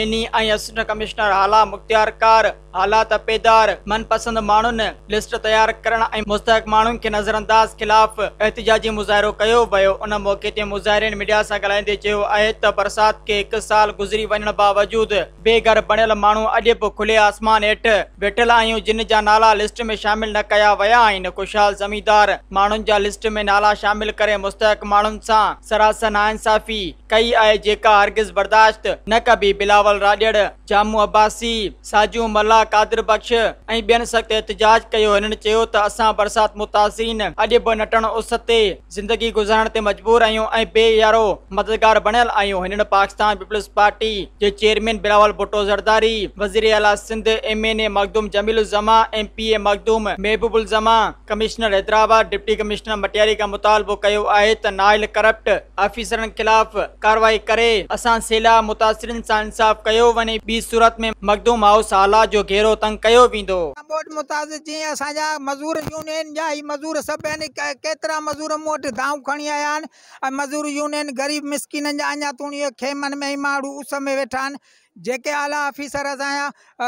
Any ۽ assistant commissioner اعليٰ مختيار ڪار حالات پيدار من پسند ماڻهن لسٽ تيار ڪرڻ ۽ مستحق ماڻهن کي نظرانداز خلاف احتجاجي مظاهرو ڪيو ويو ان موقعي تي مظاهرين ميڊيا سان ڳالهائيندي چيو آهي ته برسات کي هڪ سال گذري وڃڻ باوجود بي گهر بڻيل ماڻهو اڄ به کلي آسمان هيٺ ويٺل آهيون جن جا نالا لسٽ ۾ شامل نه ڪيا ويا آهن خوشحال زميندار ماڻهن جا لسٽ ۾ نالا شامل ڪري مستحق ماڻهن سان سراسر ناانصافي ڪئي آهي جيڪا هرگز برداشت نه ڪبي، بلاول راڄڙ، جامو عباسي، ساجون ملاح، قادر بخش ۽ ٻين سخت احتجاج ڪيو، هنن چيو ته اسان برسات متاثرين اڄ به نٽڻ اس تي زندگي گذارڻ تي مجبور آهيون ۽ بي يارو مددگار بڻيل آهيون، هنن پاڪستان پيپلز پارٽي جي چيئرمين بلاول ڀٽو زرداري، وزيراعليٰ Sindh, M N A Makhdoom Jameel uz Zaman, M P A Makhdoom Mehboob uz Zaman, commissioner Hyderabad deputy commissioner Matiari کان مطالبو ڪيو آهي ته نااهل ڪرپٽ آفيسرن خلاف ڪارروائي ڪري اسان سيلاب متاثرين سان انصاف ڪيو وڃي ٻي صورت ۾ مخدوم هائوس هالا جو گهيرو تنگ ڪيو ويندو. ڪا ٻوڏ متاثر جيئن اسان جا مزور يونين جا هي مزور سڀ آهن ڪيترا مزور مون وٽ دانهون کڻي آيا آهن ۽ مزور يونين غريب مسڪينن جا اڃا توڻي خيمن ۾ ۽ ماڻهو اس ۾ ويٺا آهن جيڪي اعليٰ آفيسر اسان جا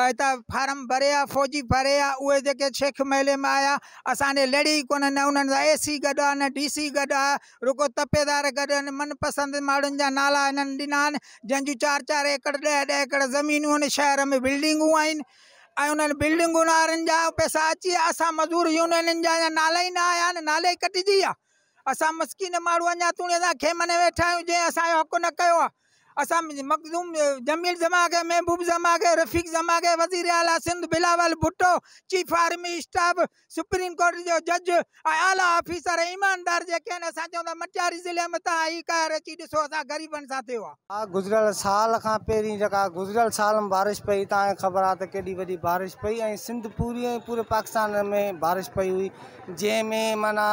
هتان فارم ڀري آيا فوجي ڀري آيا اهي جيڪي شيخ محلي مان آيا اسان ڏي لڙي ئي ڪونه نه انهن سان اي سي گڏ آ نه ڊي سي گڏ آ رڳو تپيدار گڏ آهن من پسند ماڻهن جا نالا هنن ڏنا آهن جنهن جون چار چار ايڪڙ ڏهه ڏهه ايڪڙ زمينون آهن شهر ۾ بلڊنگون آهن ۽ انهن بلڊنگن وارن جا پئسا اچي ويا اسان مزور يونينن جا اڃا نالا ئي نه آيا آهن نالي ڪٽجي ويا اسان مسڪين ماڻهو اڃا توڻي اسان خيمن ۾ ويٺا آهيون جنهن اسانجو حق نه ڪيو آ اسان مخدوم جميل ڌماڪي، محبوب ڌماڪي، رفيق ڌماڪي، وزير اعليٰ Sindh Bilawal Bhutto, chief army staff, supreme court جو جج ۽ اعليٰ آفيسر ۽ ايماندار جيڪي آهن اسان چئون ته مٽياري ضلعي ۾ تان هي قهر اچي ڏسو اسان غريبن سان ٿيو آهي. آء گذريل سال کان پهرين جيڪا گذريل سال ۾ بارش پئي تان کي خبر آهي ته ڪيڏي وڏي بارش پئي ۽ سنڌ پوري ۽ پوري پاڪستان ۾ بارش پئي هئي جنهن ۾ معنيٰ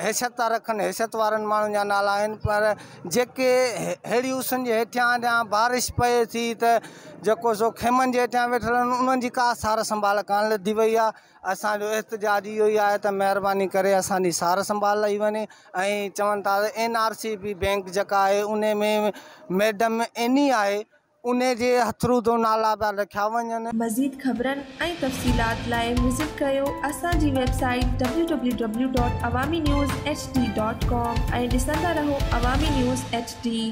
حيثيت ٿا رکن حيثيت وارن ماڻهن جا نالا آهن پر جيڪي ههڙي اسن جي هيٺيان جا بارش پئي ٿي ته جيڪو سو خيمن جي هيٺيان ويٺل آهن انهن جي ڪا سار سنڀال ڪانه لڌي وئي آهي اسانجو احتجاج اهو ئي آهي ته مهرباني ڪري اسانجي سار سنڀال لئي وڃي ۽ چون ٿا ته N R C B bank جيڪا آهي ان ۾ ميڊم اني آهي انهي جي هٿرون تون نالا پيا لکيا وڃن. مزيد خبرن ۽ تفصيلات لاء وزٽ ڪيو اسان جي website www.awaminews. hd. com ۽ ڏسندا رهو عوامي نيوز ايڇ ڊي.